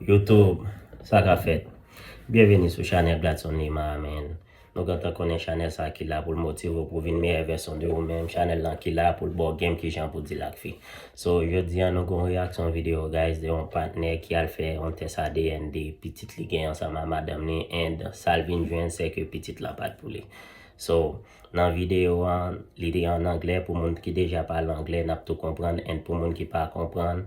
Youtube, sa ka fèt. Byenvini sou chanèl Gladson Lima a man. Nou gentan konnen chanèl sa ki la poul motive w pou vin meyè vèsyon de ou menm, chanèl lan ki la poul baw game kijan pou deal ak fi. So, jodi an nou gen yon reyaksyon video guys de yon patnè ki al fè yon tès adn de pitit li gen ansanm a madanm li and sal vin jwenn se ke pitit lan pat pou li. So, nan video an, li te an anglè pou moun ki deja pale anglè nap tou konprann and pou moun ki pa konprann,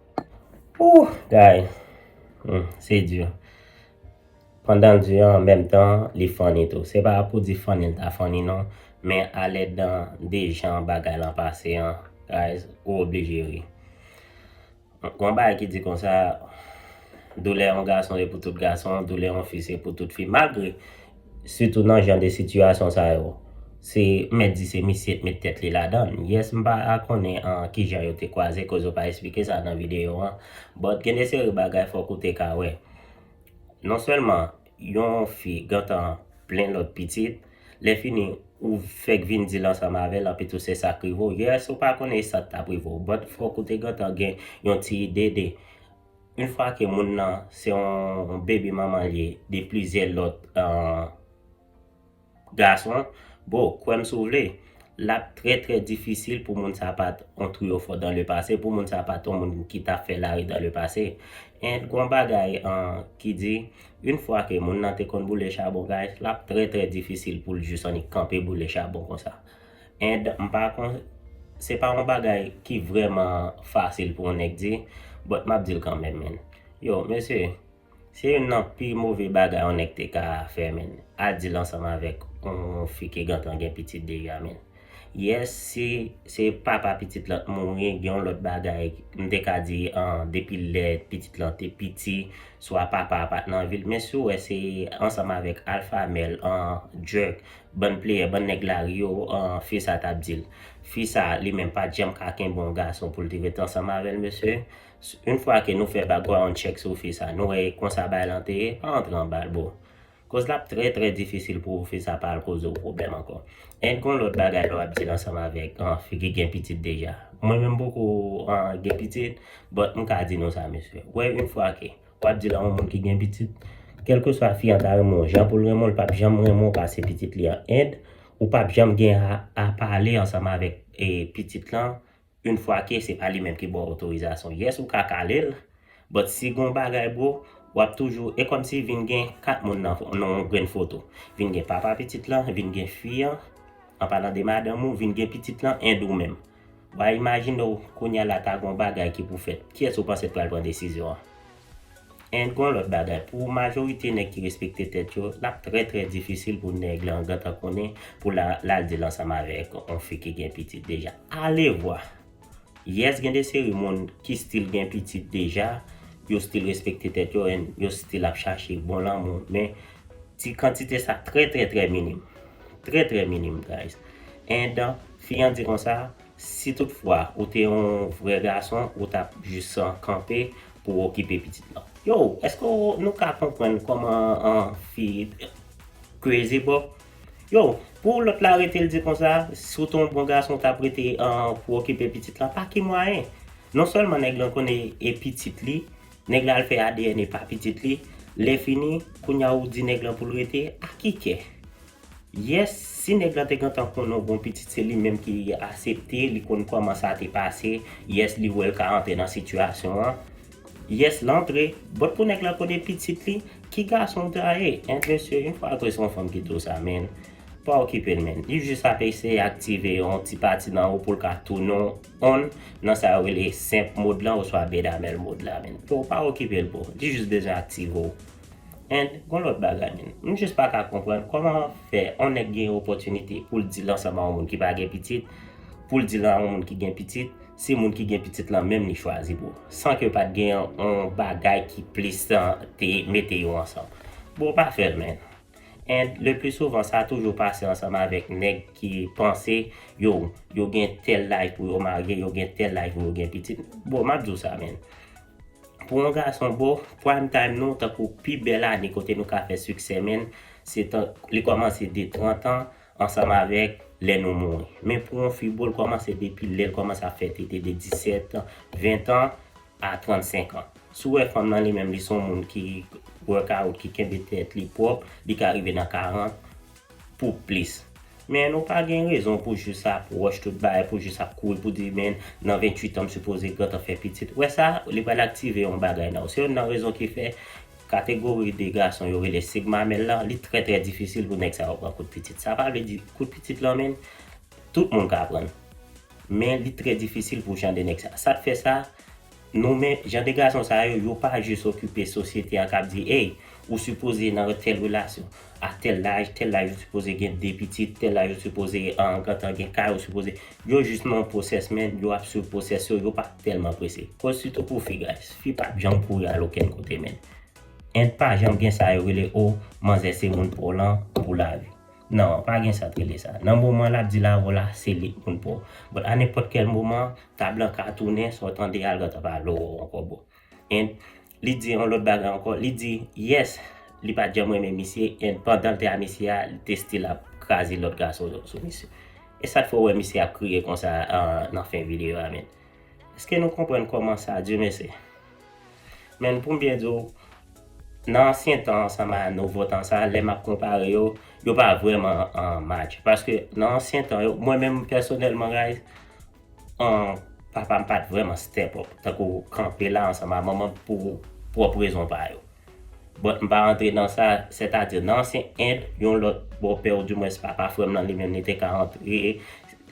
Ooh guy Humm se di Pandan l di an menm tan li funny tou Se pa pou di funny l ta funny non Men alè dan de jan bagay lan pase an Guys ou oblije ri Gon yon bagay ki di konsa Doulè yon gason e pou tout gason Doulè yon fi se pou tout fi Malgre Sitou nan jan de sitiyasyon sa yo. Se mèt di se misye t met tèt li ladan. Yes m pa konnen kijan yo te kwaze koz yo pa esplike sa nan videyo an. But gen de seri bagay fok ou te ka wè. Non selman yon fi gentan plen lot pitit, lè fini ou fek vin dil ansanm avel anpi tou se sak rive w. Yes ou pa konnen sa k tap rive w but fok ou te gentan gen yon ti ide de. Yn fwa ke moun nan se yon bebe manman li ye de plizyè lòt gason, bro kwèm si w vle lap trè trè difisil pou moun sa pat yon triyofò dan le pase, pou moun sa pat yon moun ki ta fè lari dan le pase. And gon bagay ki di yn fwa ke moun nan te konn boule chabon guys lap trè trè difisil pou l jis annik kanpe boule chabon konsa. And m pa kon se pa yon bagay ki vrèman fasil pou yon nèg di but map dil kanmèm man. Yo mesye se youn nan pi move bagay yon nèg te ka fè man al dil ansanm avèk yon fi ki gentan gen pitit deja man. Yes si se papa pitit lan t mouri gen yon lòt bagay m te ka di an depi lè pitit lan te piti swa papa a pat nan vil men si w wè se ansanm avèk alpha male an jerk Bann playè bann nèg lari yo aah fi sa tap dil fi sa li menm pat janm ka kenbe yon gason poul te ret ansanm avèl mesye une fwa ke nou fè background check sou fi sa nou wè e konsa bagay lan te ye pa antre anbal bro koz lap trè trè difisil pou fi sa pa al koze w pwoblèm ankò and gon lòt bagay lè wap dil ansanm avèk aah fi ki gen pitit deja mwen menm m poko aah gen pitit but m ka di nou sa mesye wè une fwa ke Wap di la yon moun ki gen pitit kelkeswa fi an ta renmen w jan poul renmen w li pap janm renmen w pase pitit li an and ou pap janm gen a pale ansanm avèk pitit lan yn fwa ke se pa li menm ki baw otorizasyon yes ou ka kale l but si gon bagay bro wap toujou e kòmsi vin gen 4 moun nan yon grenn foto vin gen papa pitit lan vin gen fi an an palan de madanm ou vin gen pitit lan and ou menm. Wa imajine w kounya la ta gon bagay ki pou fèt, kiyès ou panse t pral pran desizyon an? And gon lòt bagay, pou majorite nèg ki respekte tèt yo, l ap trè trè difisil pou nèg lan gentan konnen pou la l al di l ansanm avèk on fi ki gen pitit deja. Alevwa! Yes gen de seri moun ki stil gen pitit deja, yo stil respekte tèt yo and yo stil ap chache bon lanmou men ti kantite sa trè trè trè minim. Trè trè minim guys. And Fi an di konsa, Si tout fwa ou te yon vrè gason ou tap jis kanpe pou okipe pitit lan. Yow eske nou ka konprann koman fi crazy bro Yow pou lot la rete l di konsa si w te yon bon gason w tap rete pou okipe pitit lan pa ki mwayen non selman neg lan konnen e pitit li neg la al fè adn e pa pitit li lè fini kounya ou di neg lan pou l rete a ki kè. Yes si nèg lan te gentan konnen w bon pitit se li menm ki asepte li konn kòman sa te pase yes li wèl ka antre nan sitiyasyon an yes l antre but pou nèg lan konnen pitit li ki gason w ta ye and mesye yon fwa ke se yon fanm ki di w sa menn pa okipe l menn li jis ap eseye aktive yon ti pati nan ou pou l ka tounen w on nan sa yo rele simp mode lan oswa bedamèl mode la menn bro pa okipe l bro li jis bezwen aktive w And gon lòt bagay menn, m jis pa ka konprann kòman fè on nèg gen yon opòtinite pou l di l ansanm a on moun ki pa gen pitit, pou l di l a on moun ki gen pitit, se moun ki gen pitit lan menm li chwazi pou, san ke pa t gen on bagay ki plis te mete yo ansanm. Bro pa fè l menn. And le pli souvan sa toujou pase ansanm avèk nèg ki panse yo yo gen tèl laj pou yo marye, yo gen tèl laj pou yo gen pitit. Bro m ap di w sa menn, Pou yon gason boo, prime time nou tankou pi bèl ane kote nou ka fè siksè menn, se tank li kòmanse de 30 an ansanm avèk lè nou mouri. Men pou yon fi boo l kòmanse depi lè l kòmanse ap fè tete de 17, 20 an a 35 an. Si w wè fanm nan li menm li son moun ki workout, ki kenbe tèt li pwòp, li ka rive nan 40, pou plis. Men nou pa gen rezon pou jus ap rush tout bagay, pou jus ap kouri pou di men nan 28 an m sipoze gentan fè pitit. Wè sa, li pral aktive yon bagay nan ou. Se youn nan rezon ki fè kategori de gason yo rele sig mamèl lan, li trè trè difisil pou nèg sa yo pran kout pitit. Sa pa vle di kout pitit lan menm, tout moun ka pran l. Men li trè difisil pou jan de nèg sa. Sa k fè sa? Nou men jan de gason sa yo, yo pa jis okipe sosyete a kap di ey ou sipoze nan tèl relasyon a tèl laj, tèl laj ou sipoze gen 2 pitit, tèl laj ou sipoze gentan gen kay ou sipoze, yo jis nan yon pwosès men yo ap swiv pwosès yo, yo pa tèlman prese. Koz sitou pou fi guys, fi pap janm kouri al okenn kote men and pa janm gen sa yo rele oh manzè se moun twò lan pou lavi. Non, pa gen sat rele sa. Nan moman lap di la Rola se li k moun paw. But a nenpòt kèl moman, tab lan ka tounen sa w tande a lòt ap ale w ankò bro. And li di yon lòt bagay ankò, li di yes li pat janm renmen misye and pandan l te a misye a li te still ap kraze lòt gason yo sou misye. E sa t fè w wè misye ap kriye konsa nan fen video a menn? Eske nou konprann kòman sa Dieumerse? Men pou m byen di w, nan ansyen tan an sanm a nouvo tan sa a, lè m ap konpare yo, yo pa vrèman match. Paske nan ansyen tan yo, mwen menm pèsonèlman Rayz, papa m pa t vrèman step up, tankou kanpe la ansanm a manman m pou pwòp rezon pa yo. But m pa rantre nan sa, sètadi nan ansyen End, yon lòt bòpè ou dimwens papa frè m lan li menm li te ka antre,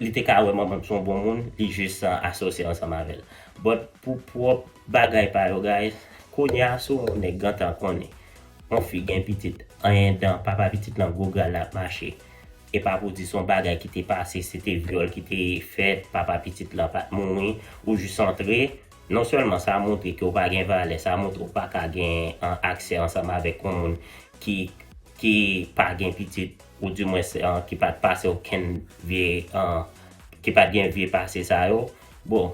li te ka wè manman m son bon moun, li jis asosye ansanm avè l. But pou pwòp bagay pa yo guys, kounye a si w wè yon nèg gentan konnen yon fi gen pitit, anyen dan papa pitit lan gwo gra l ap mache. E pa pou di son bagay ki te pase, se te vyòl ki te fèt, papa pitit lan pat mouri, ou jis antre, Non sèlman sa montre ke w pa gen valè, sa montre w pa ka gen aksè ansanm avèk yon moun ki ki pa gen pitit ou di mwens ki pa t pase okenn vye ki pa t gen vye pase sa yo, bon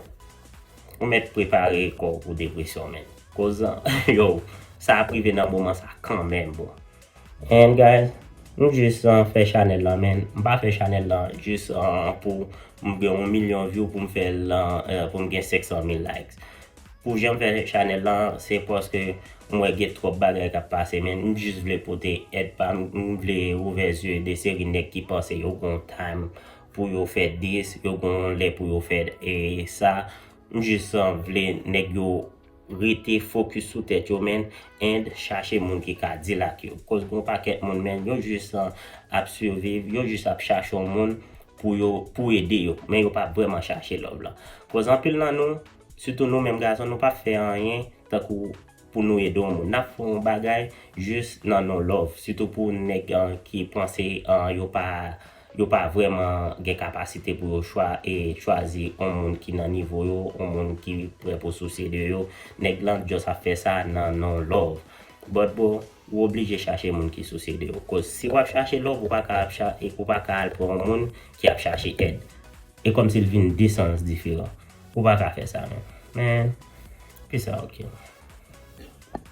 ou mèt prepare kò w pou depresyon menn. Koz yow sa ap rive nan moman sa kanmenm bon. And guys m jus fè chanèl lan men m pa fè chanèl lan jus pou m gen yon milyon view pou m fè l pou m gen 500 mil likes pou jan m fè chanèl lan se paske m wè gen twòp bagay kap pase men m jus vle pote èd pa m m vle ouvè zye de seri nèg ki panse yo gen yon time pou yo fè dis yo gen yon lè pou yo fè sa m jus vle nèg yo rete focus sou tèt yo menn and chache moun ki ka deal ak yo koz gon pakèt moun menn yo jus ap surviv yo jus ap chache yon moun pou yo pou ede yo men yo pa vrèman chache love lan koz anpil nan nou sitou nou menm gason nou pap fè anyen tankou pou nou ede yon moun nap fè yon bagay jus nan non love sitou pou nèg ki panse yo pa Yo pa vrèman gen kapasite pou yo chwa e chwazi on moun ki nan nivo yo, on moun ki prè pou sousye de yo. Nèg lan just ap fè sa nan non love. But bro, ou oblije chache moun ki sousye de yo. Koz si wap chache love, ou pa ka ap cha, ou pa ka al pran on moun ki ap chache èd. E kòm si l vin de sans diferan. Ou pa ka fè sa non. Men, peace out king.